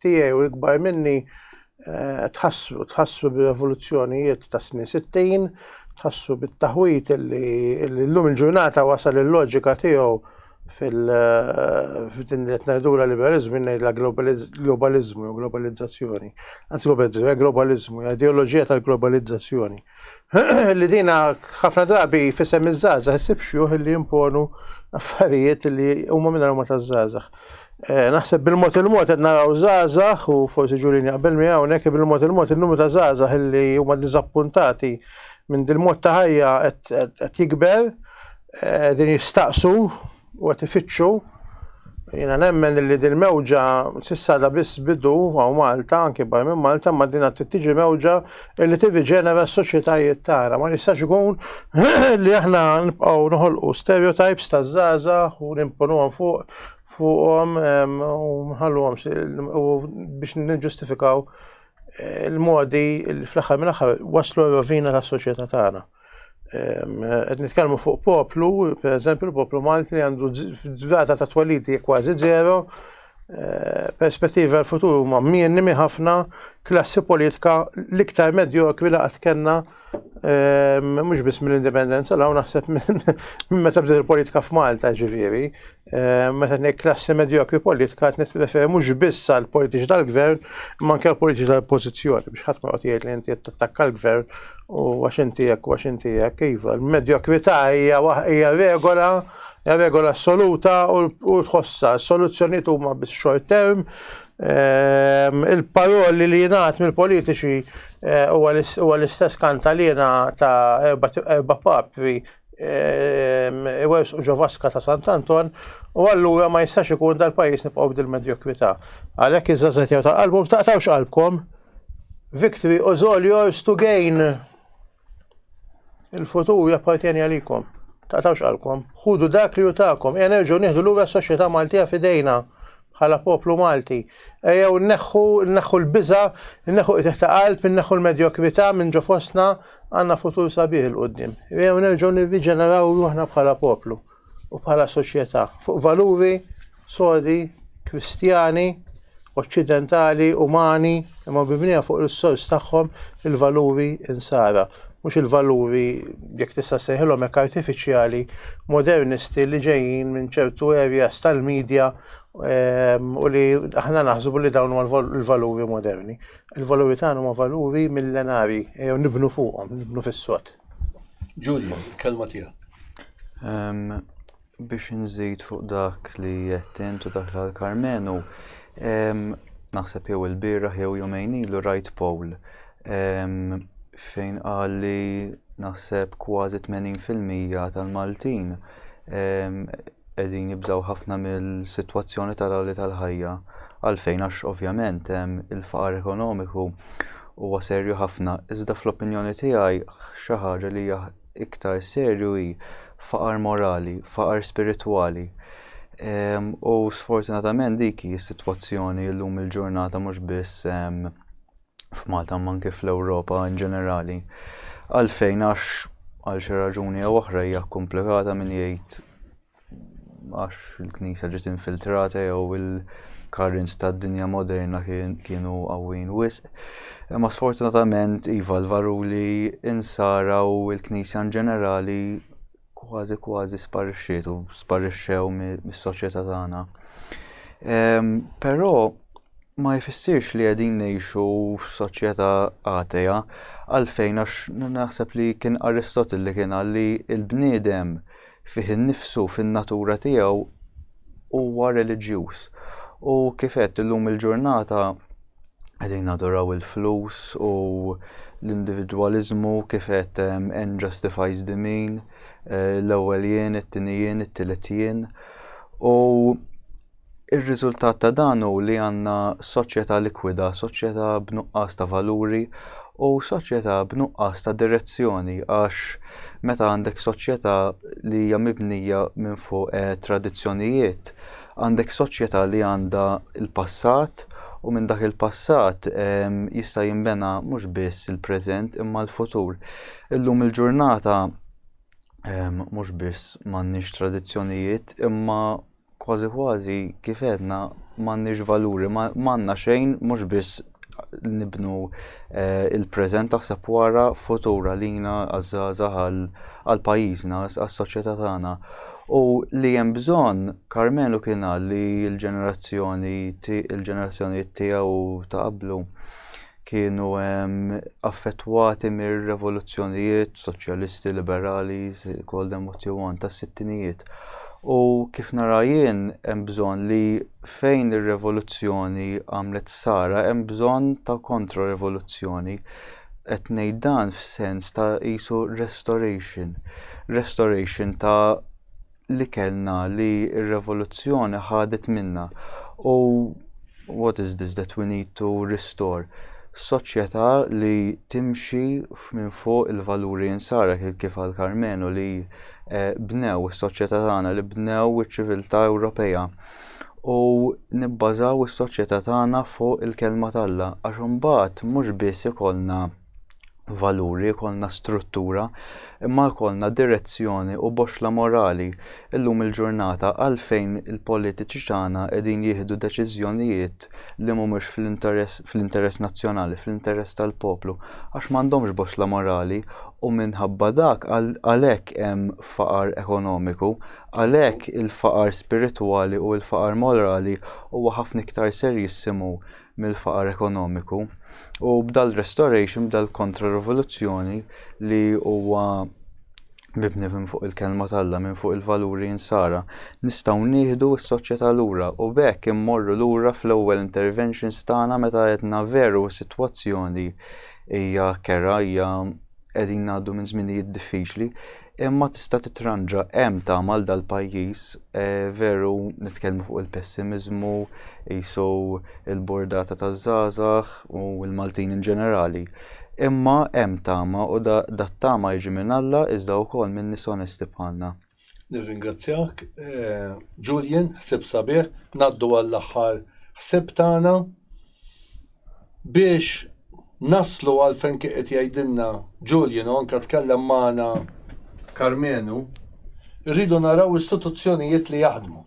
tiegħi u ikbar minni eh, tħassru, tħassru bir-revoluzzjonijiet ta' snin 60, tħassru bit-taħwit illi illi llum il-ġurnata wasal il-loġika tiegħu fil- eh, f'din li qed ngħidulha liberaliżmu jien ngħidla globaliz- globaliżmu jew globalizzazzjoni. Anzi globalizzazzjoni, globaliżmu, hija ideoloġija tal-globalizzazzjoni. li dina ħafna drabi fisem iż-żgħażagħ issib xjuħ li jimponu affarijiet li huma minn huma taż-żgħażagħ. Eh, naħseb bil-mod il-mod qed naraw żgħażagħ u forsi ġulin jaqbel mi hawnhekk bil-mod il-mod il-numru ta' żgħażagħ li huma diżappuntati minn dil-mod ta' ħajja qed jikber eh, din jistaqsu u qed ifittxu jiena nemmen li din mewġa s'issa da biss bidu għaw Malta, anke bar minn Malta, ma dina tiġi mewġa li tivi ġenera s-soċjetajiet tagħna. Ma jistax ikun li aħna nibqgħu noħolqu stereotypes ta' zaza u nimponuhom fuq fuqhom u nħalluhom biex niġġustifikaw eh, il-modi fl-aħħar mill-aħħar waslu rovina tas-soċjetà tagħna. Qed nitkellmu fuq poplu, per eżempju l-poplu Malti li għandu data ta' twelidi kważi zero, eh, perspettiva l-futur huma mienni ħafna klassi politika l-iktar medjokri li qatt kellna mhux biss mill-indipendenza l naħseb minn meta bdiet il-politika f'Malta ġifieri, Eh, meta ngħid klassi medjokri politika qed nitrefer mhux biss għal politiċi tal-gvern, imma anke politiċi tal-oppożizzjoni biex ħadd ma qed jgħid li inti qed tattakka l-gvern u għax inti hekk u għax inti hekk iva. Il-medjokrità hija hija regola hija regola assoluta u tħossha s-soluzzjonijiet huma biss short term. Eh, il-paroli li jingħad mill-politiċi eh, huwa l-istess kanta li ta' erba' papri iwers u ġovaska ta' Sant'Anton u allura ma jistax ikun dal-pajis nibqgħu b'dil medjokwità. Għalhekk iż-żażet jew ta' qalbhom taqtawx qalbkom. Victory u all yours to gain. Il-futur jappartjeni għalikom. Taqtawx qalbkom. Ħudu dak li jutakom. Ejja nerġgħu nieħdu lura s-soċjetà Maltija fidejna. bħala poplu Malti. Ejjew nneħħu, nneħħu l-biża, nneħħu qitih ta' qalb, nneħħu l-medjokrita minn ġo fostna għandna futur sabiħ il-qudiem. Ejjew nerġgħu nirriġeneraw ruħna bħala poplu u bħala soċjetà fuq valuri sodi, kristjani, oċċidentali, umani, Imma mibnija fuq is-sors tagħhom, il-valuri Insara, mhux il-valuri, jekk tista' ssejħilhom hekk artifiċjali, modernisti li ġejjin minn ċertu areas tal-media u li aħna naħsbu li dawn huma l-valuri moderni. Il-valuri tagħna huma valuri millenarji, ejjew nibnu fuqhom, nibnu fis-sod. Giulio, il-kelma tiegħek. Biex inżid fuq dak li qed int u dak li għal Karmenu, naħseb jew il-bieraħ jew jumejn ilu rajt poll fejn qal li naħseb kważi 80% tal-Maltin qegħdin jibżgħu ħafna mill-sitwazzjoni tal-għoli tal-ħajja. Għalfejn għax ovvjament il-faqar ekonomiku huwa serju ħafna, iżda fl-opinjoni tiegħi xi ħaġa li hija iktar serju hi faqar morali, faqar spiritwali. Ehm, u sfortunatament dik hi s-sitwazzjoni llum il-ġurnata mhux biss ehm, f'Malta ma anke fl-Ewropa in ġenerali. Għalfejn għax għal xi raġuni jew oħra hija komplikata min jgħid għax il-Knisja ġiet infiltrata jew il-karrins tad-dinja moderna kienu qawwin wisq. Imma sfortunatament iva l-varuli insara u l-Knisja in ġenerali kważi kważi sparixxiet u sparixxew mis-soċjetà tagħna. Ehm, però ma jfissirx li qegħdin ngħixu f'soċjetà għateja għalfejn għax naħseb li kien Aristotle li kien għalli il-bniedem Fih innifsu, fin-natura tiegħu, huwa reliġjuż. U kif għedt, illum il-ġurnata qegħdin naduraw il-flus u l-individwaliżmu kif għedt end justifies the mean, eh, l-ewwel jien, it-tieni jien, it-tielet jien. U Ir-riżultat ta' dan hu li għandna soċjetà likwida, soċjetà b'nuqqas ta' valuri u soċjetà b'nuqqas ta' direzzjoni għax meta għandek soċjetà li hija mibnija minn fuq eh, tradizzjonijiet, għandek soċjetà li għandha l-passat u minn dak il-passat ehm, jista' jinbena mhux biss il-preżent imma l-futur. Illum il-ġurnata ehm, mhux biss m'għandniex tradizzjonijiet imma Kważi kważi kif għedna m'għandniex valuri, ma għandna xejn mhux biss nibnu eh, il-preżent taħseb wara futur għalina għaż-żgħażagħ għal pajjiżna, għas-soċjetà tagħna. U li hemm bżonn, Karmenu kien qal li l-ġenerazzjoni il-ġenerazzjoni tiegħu ta' qablu kienu affettwati mir-revoluzzjonijiet soċjalisti, liberali, call them what you want, tas-sittinijiet. U kif nara jien hemm bżonn li fejn ir-revoluzzjoni għamlet sara hemm bżonn ta' kontra-revoluzzjoni. Qed ngħid dan f'sens ta' isu restoration. Restoration ta' li kellna li r-revoluzzjoni ħadet minna u what is this that we need to restore? Soċjetà li timxi minn fuq il-valuri insara kif għal Karmenu li eh, bnew is-soċjetà tagħna li bnew iċ-ċiviltà Ewropea u nibbażaw is-soċjetà tagħna fuq il-kelma t'Alla għax imbagħad mhux biss ikollna valuri, jkollna struttura, imma jkollna direzzjoni u boxla morali illum il-ġurnata għalfejn il-politiċi tagħna qegħdin jieħdu deċiżjonijiet li mhumiex fl-interess fl-interess nazzjonali, fl-interess tal-poplu, għax m'għandhomx boxla morali u minħabba dak għalhekk hemm faqar ekonomiku, għalhekk il-faqar spiritwali u l-faqar morali huwa ħafna iktar serjissimu mill-faqar ekonomiku u b'dal restoration, b'dal kontra rivoluzzjoni li huwa mibni minn fuq il-kelma tal-la, minn fuq il-valuri insara, nistaw nieħdu s-soċjetà lura u bekk immorru lura fl-ewwel interventions tagħna meta għedna veru s-sitwazzjoni hija kera, hija qegħdin ngħaddu minn żminijiet diffiċli, Imma tista' titranġa hemm tama għal dal-pajjiż, veru nitkellmu fuq il-pessimiżmu qisu l-burdata taż-żgħażagħ u l-Maltin in ġenerali. Imma hemm tama u dat-tama jiġi minn Alla iżda wkoll minn nies onesti bħalna. Nirringrazzjak Julian, ħsieb sabiħ. Ngħaddu għall-aħħar ħsieb tagħna. Biex naslu għal fejn kien qed jgħidilna Julian u anke tkellem magħna Karmenu, irridu naraw istituzzjonijiet li jaħdmu.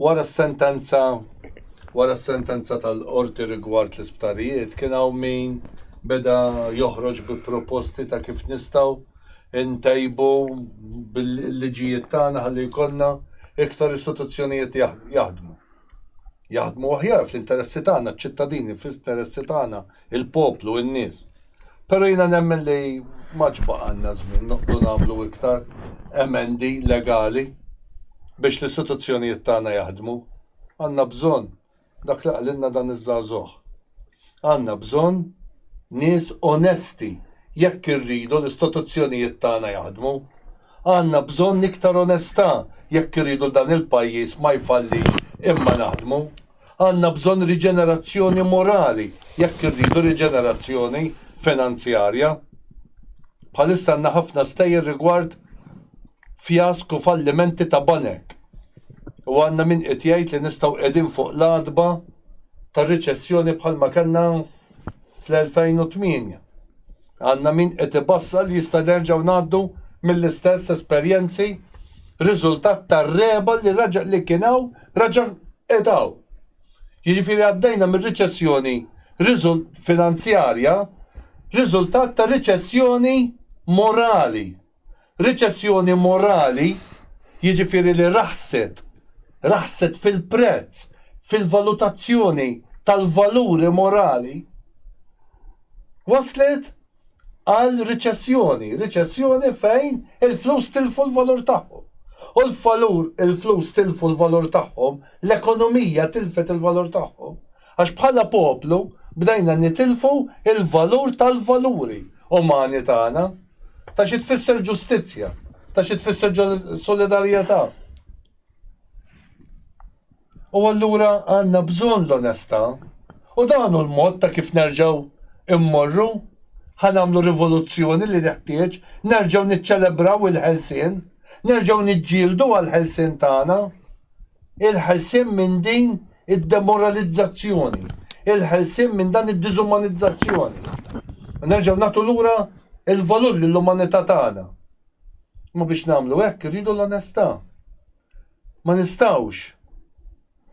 Wara s-sentenza wara s-sentenza tal-qorti rigward l-isptarijiet kien hawn min beda joħroġ bi proposti ta' kif nistgħu ntejbu bil-liġijiet tagħna ħalli jkollna iktar istituzzjonijiet jaħdmu. Jaħdmu aħjar fl-interessi tagħna, ċ-ċittadini, fl-interessi tagħna, il-poplu, in-nies. Però jiena nemmen li m'għadx baqgħalna żmien noqgħdu nagħmlu iktar emendi legali biex l-istituzzjonijiet tagħna jaħdmu. Għandna bżonn dak li qalilna dan iż-żagħżugħ. Għandna bżonn nies onesti jekk irridu l-istituzzjonijiet tagħna jaħdmu. Għandna bżonn iktar onestà jekk irridu dan il-pajjiż ma jfallix imma naħdmu. Għandna bżonn riġenerazzjoni morali jekk irridu riġenerazzjoni finanzjarja. Bħalissa għandna ħafna stejjer rigward fjask u fallimenti ta' banek u għandna min qiegħed jgħid li nistgħu qiegħdin fuq l-għatba ta' riċessjoni bħalma kellna fl-2008. Għandna min qiegħed ibassar li jista' nerġgħu ngħaddu mill-istess esperjenzi riżultat tar-regħba li reġa' li kien hawn reġa' qiegħed hawn. Jiġifieri għaddejna minn riċessjoni finanzjarja riżultat ta' riċessjoni morali. Riċessjoni morali jiġifieri li raħset, raħset fil-prezz, fil-valutazzjoni tal-valuri morali, wasslet għal riċessjoni, riċessjoni fejn il-flus tilfu l-valur tagħhom. U l-valur, il-flus tilfu l-valur tagħhom, l-ekonomija tilfet il-valur tagħhom. Għax bħala poplu bdejna nitilfu l-valur tal-valuri umani tagħna, ta' xi tfisser ġustizzja, ta' xi tfisser solidarjetà. U allura għandna bżonn l-onestà u dan hu l-mod ta' kif nerġgħu mmorru ħa nagħmlu rivoluzzjoni li neħtieġ, nerġgħu niċċelebraw il-ħelsien, nerġgħu niġġieldu għall-ħelsien tagħna. il-ħelsien minn din id-demoralizzazzjoni, il-ħelsien minn dan id-diżumanizzazzjoni. Nerġgħu nagħtu lura il-valur lill-umanità tagħna. Ma biex nagħmlu hekk irridu l-onestà. Ma nistgħux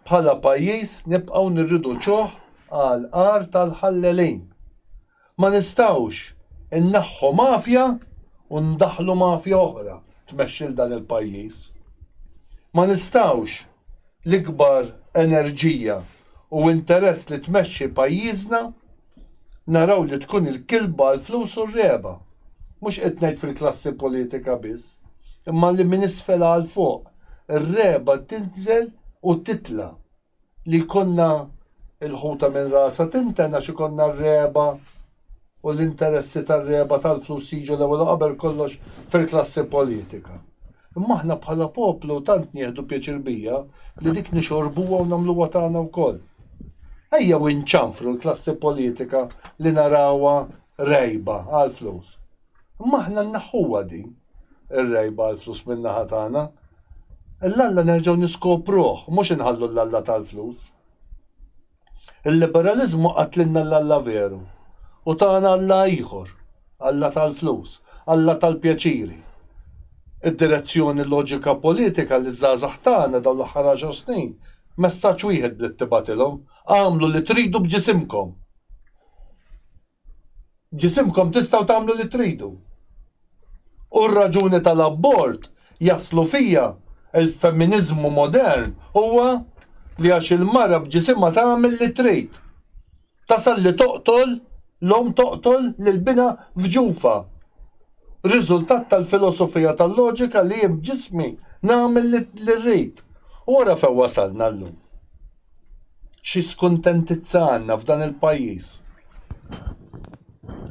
bħala pajjiż nibqgħu nirriduċuh għal qar tal-ħallelin. Ma nistgħux inneħħu mafja u ndaħħlu mafja oħra tmexxi 'l dan il-pajjiż. Ma nistgħux l-ikbar enerġija u interess li tmexxi pajjiżna naraw li tkun il-kilba għall-flus u r-regħba. Mhux qed ngħid fil-klassi politika biss, imma li minn isfel għal fuq ir-regħba tinżel u titla'. Li jkollna l-ħuta minn rasha tinten għax ikollna r-regħba u l-interessi tar-regħba tal-flus jiġu l-ewwel u qabel kollox fil-klassi politika. Imma aħna bħala poplu tant nieħdu pjaċir bija li dik nixorbuha u nagħmluha tagħna wkoll. Ejjew inċanfru l-klassi politika li narawha regħba għall-flus. Imma aħna nneħħuha din. ir-rejba għall-flus min-naħa tagħna. L-Alla nerġgħu niskopruh, mhux inħallu l-Alla tal-flus. Il-liberaliżmu qatlilna l-Alla veru u tana Alla ieħor, Alla tal-flus, Alla tal-pjaċiri. Id-direzzjoni loġika politika liż-żgħażagħ tagħna dawn l-aħħar għaxar snin, messaġġ wieħed bdiet tibgħatilhom, agħmlu li tridu b'ġisimkom! Ġisimkom tistgħu tagħmlu li tridu. U r-raġuni tal-abort jaslu fija, il-feminiżmu modern huwa li għax il-mara b'ġisimha tagħmel li trid. Tasal li toqtol, l-omm toqtol lil binha f'ġufha. Riżultat tal-filosofija tal-loġika li jien b'ġismi nagħmel li rrid. U ara fejn wasalna llum. xi skuntentizza għandna f'dan il-pajjiż.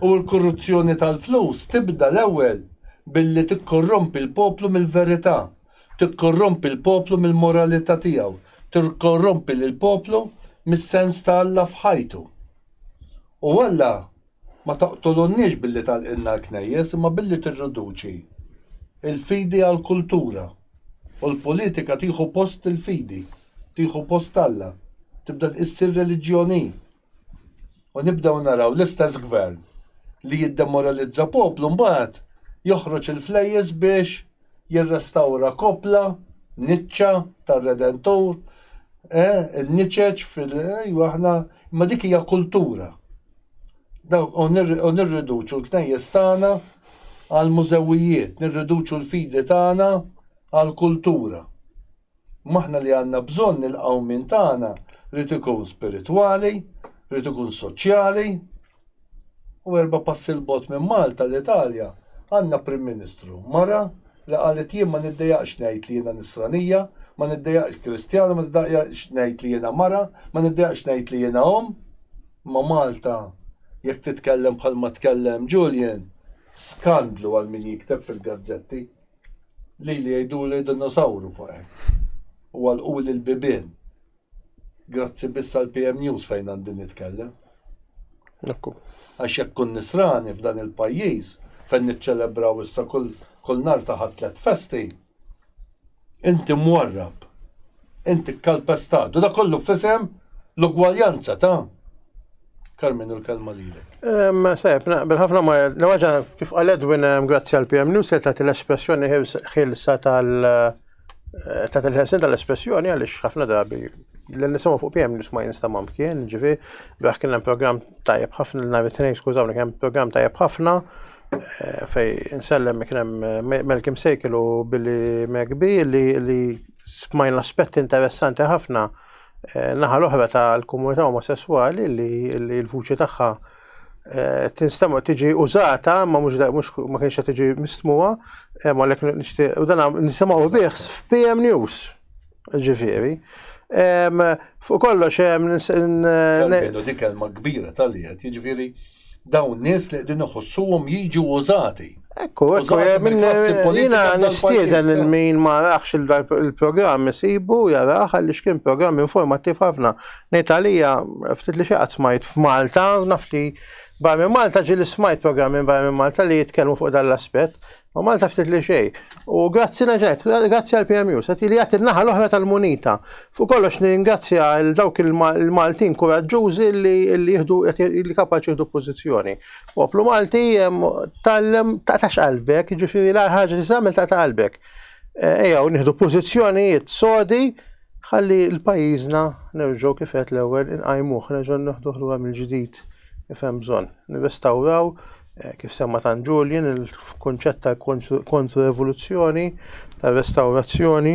U l-korruzzjoni tal-flus tibda l-ewwel billi tikkorrompi l-poplu mill-verità, tikkorrompi l-poplu mill-moralità tiegħu, tikkorrompi lill-poplu mis-sens ta' Alla f'ħajtu. U Alla Ma toqtolunniex billi tagħlqilna l-knejjes imma billi tirriduċi l-fidi għal kultura u l-politika tieħu post il-fidi, tieħu post Alla, tibda issir reliġjon hi. U nibdew naraw l-istess gvern li jiddemoralizza poplu mbagħad joħroġ il-flejjes biex jirrestawra koppla, niċċa, tar-Redentur, eh, in-niċeċ fil, ejwa aħna, imma dik hija kultura. dawk u nirriduċu l-knejjes tagħna għal mużewijiet, nirriduċu l-fidi tagħna għal kultura. Imma aħna li għandna bżonn il-qawmien tagħna rrid ikun spiritwali, rrid ikun soċjali. U erba' passi l bot minn Malta l-Italja għandna Prim Ministru mara Li qalet jien ma niddejaqx ngħid li jiena Nisranija, ma niddejaqx Kristjana, ma niddejaqx ngħid li jiena mara, ma niddejaqx ngħid li jiena omm, imma Malta jekk titkellem bħalma tkellem Julian, skandlu għal min jikteb fil-gazzetti. Lili jgħiduli dinosawru fuq hekk. U għalquli l-bibien. Grazzi biss għal PM News fejn għandi nitkellem. Ekku. Għax jekk kun nisrani f'dan il-pajjiż fejn niċċelebraw issa kull kull nar taħat tlet festi. Inti mwarrab. Inti kalpestat. U da kollu fisem l-ugwaljanza ta' Carmen, u l-kelma lilek. Seb, naqbel ħafna ma l-ħaġa kif għal Edwin grazzi għal PM News li tagħti l-espressjoni ħilsa tal eh, ta' il-ħelsin tal-espressjoni għaliex ħafna drabi l nisimgħu fuq PM News ma jinsta mamkien, ġifi, biex kien hemm programm tajjeb ħafna l-nhar it-tnejn skużawni kien programm tajjeb ħafna eh, fej insellem kien hemm eh, Melkim Sejkil u Billy McBee li smajna aspetti interessanti ħafna eh, naħa l-oħra ta' l-komunità omosessuali li l-vuċi tagħha eh, tinstema tiġi użata ma mhux ma kienx qed tiġi mistmuha eh, ma lek nixtieq u dan nisimgħu bih f'PM News. Ġifieri, Fuq kollox, dik kelma kbira tal-liet, jiġifieri. Dawn nies li qegħdin iħossuhom jiġu użati. Ekku, ekku, jina nistieden il-min ma raħx il-programm isibu jaraħ għaliex kien programm informattiv ħafna. Nejt għalija, ftit li xaqat smajt f'Malta, naf li barmi Malta ġili smajt programm minn barmi Malta li jitkellmu fuq dan l-aspett. U Malta ftit li xej. U grazzi naġet, grazzi għal PMU, set li għat il-naħa l-oħra tal-munita. Fuq kollox ningrazzja l-dawk il-Maltin kuraġġużi li jihdu li kapaċi jihdu pozizjoni. Poplu Malti tal-lem ta' tax qalbek, ġifiri l-ħagġa t-samil ta' qalbek. Eh, Eja, u nihdu pozizjonijiet sodi Ħalli l-pajjiżna nerġgħu kif għedt l-ewwel inqajmuh, nerġgħu neħduh lura mill-ġdid kif hemm bżonn. Nirrestawraw eh, kif semma tan Julian il-kunċett tal-kontru evoluzzjoni, tal-restawrazzjoni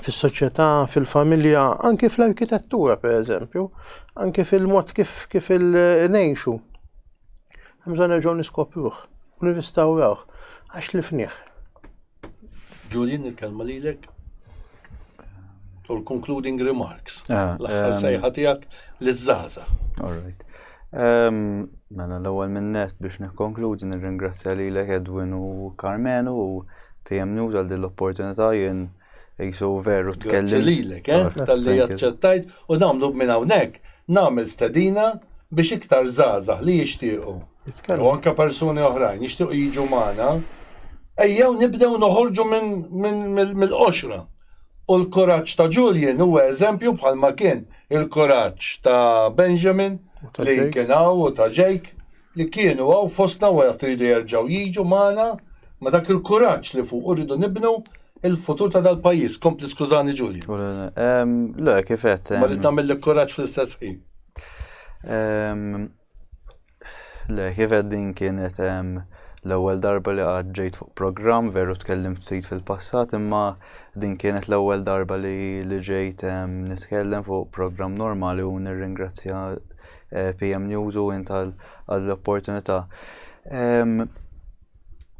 fis-soċjetà, fil-familja, anki fl-arkitettura per eżempju, anki fil-mod kif kif il-nejxu. Mżon nerġgħu niskopruh, u nirrestawrawh, għax li fniħ. Julian, il-kelma lilek. U l-concluding remarks. Ah, L-aħħar ehm, sejħa tiegħek liż-żaża. All right. Ehm, mela l-ewwel minnet biex nikkonkludi nirringrazzja lilek Edwin u Carmenu u PM News għal din l-opportunità jien jisu veru tkellim. Grazzi lilek, eh, tal-li jaċċettajt u nagħmlu minn hawnhekk nagħmel stedina biex iktar żgħażagħ li jixtiequ jew anke persuni oħrajn jixtiequ jiġu magħna, ejjew nibdew noħorġu mill-qoxra. U l-kuraġġ ta' Julian huwa eżempju bħalma kien il-kuraġġ ta' Benjamin li kien hawn u ta' Jake li kienu hawn fostna u qed iridu jerġgħu jiġu magħna ma' dak il-kuraġġ li fuqu rridu nibnu l-futur ta' dal-pajjiż. Kompli skużani Julian. Le, kif qed. Ma rrid nagħmillek kuraġġ fl-istess ħin. Le, kif qed din kienet l-ewwel darba li qatt ġejt fuq programm, veru tkellimt ftit fil-passat, imma din kienet l-ewwel darba li, li ġejt nitkellem fuq programm normali u nirringrazzja eh, PM News u int għall-opportunità.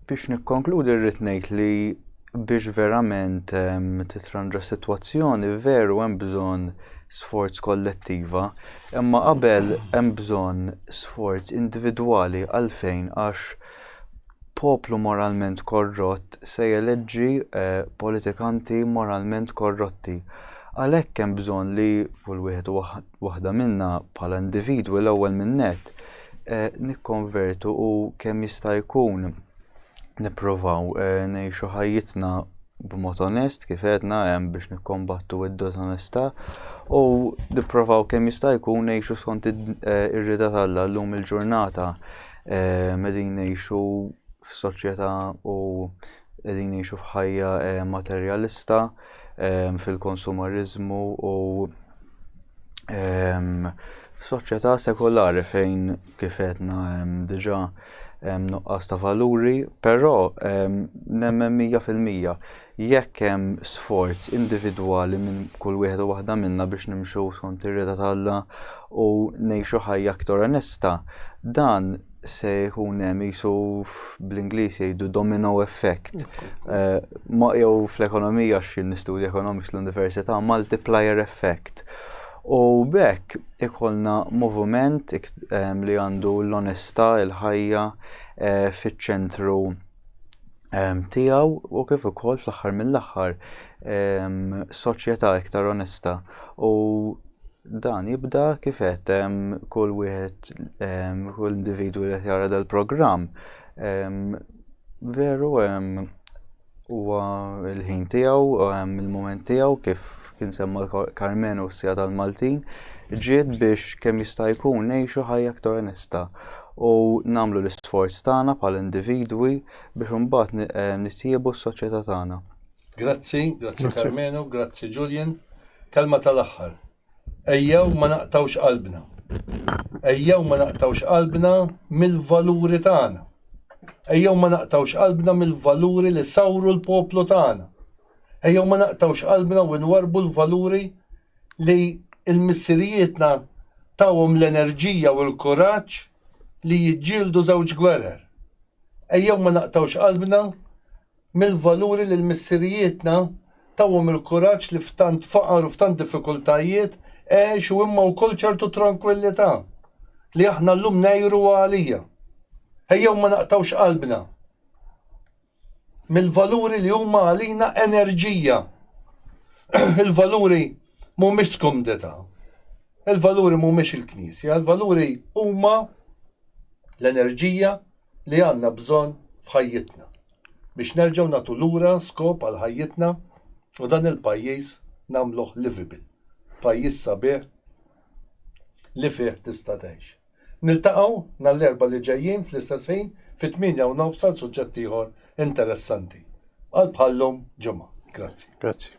Biex nikkonkludi rrid ngħid li biex verament ehm, titranġa s-sitwazzjoni veru hemm bżonn sforz kollettiva, imma qabel hemm bżonn sforz individwali għalfejn għax poplu moralment korrott se jeleġġi eh, politikanti moralment korrotti. Għalhekk hemm bżonn li kull wieħed waħda minna bħala individwi l-ewwel minn nett nikkonvertu u kemm jista' jkun nippruvaw ngħixu ħajjitna b'mod onest kif għedna hemm biex nikkombattu d-diżonestà u nipprovaw kemm jista' jkun ngħixu skont ir-rieda t'Alla llum il-ġurnata qegħdin ngħixu f'soċjetà u Qegħdin ngħixu f'ħajja materjalista fil-konsumariżmu u f'soċjetà sekolari fejn kif qedna diġà hemm nuqqas ta' valuri, però nemmen mija fil-mija jekk hemm sforz individwali minn kull wieħed u waħda minna biex nimxu skont ir-rieda ta' Alla u ngħixu ħajja aktar onesta, dan se jkun hemm jisu bl-Ingliż jgħidu domino effect. Eh, ma jew fl-ekonomija xi nistudja economics l-Università multiplier effect. U bekk ikollna moviment eh, li għandu l-onestà, il-ħajja eh, fiċ-ċentru tiegħu u kif ukoll fl-aħħar mill-aħħar soċjetà iktar onesta u dan jibda kif qed kull wieħed kull individwu li jara dal-programm veru huwa l-ħin tiegħu il-mument tiegħu kif kien semma Carmen u s-sija tal-Maltin ġiet biex kemm jista' jkun ngħixu ħajja aktar onesta u nagħmlu l-isforz tagħna bħala individwi biex imbagħad nitjiebu s-soċjetà tagħna. Grazzi, grazzi Karmenu, grazzi Julian. Kelma tal-aħħar. Ejjew ma naqtgħux qalbna. Ejjew ma naqtgħux qalbna mill-valuri tagħna. Ejjew ma naqtgħux qalbna mill-valuri li sawru l-poplu tagħna. Ejjew ma naqtgħux qalbna u nwarbu l-valuri li l-missirijietna tawhom l-enerġija u l-kuraġġ li jiġġieldu żewġ gwerer. Ejjew ma naqtgħux qalbna mill-valuri li l-missirijietna tawhom il-kuraġġ li f'tant faqar u f'tant diffikultajiet għexu imma wkoll ċertu trankwillità li aħna llum ngħiru għalija. Ejjew ma naqtgħux qalbna mill-valuri li huma għalina enerġija, il-valuri Mhumiex skomdità. Il-valuri mhumiex il-Knisja, il-valuri huma l-enerġija li għandna bżonn f'ħajjitna biex nerġgħu nagħtu lura skop għal ħajjitna u dan il-pajjiż nagħmluh livable, pajjiż sabiħ li fih tista' tgħix. Niltaqgħu nhar l-Erbgħa li ġejjin fl-istess ħin fit-tmienja u nofs għal suġġett ieħor interessanti. Għal bħal-lum ġimgħa. Grazzi. Grazzi.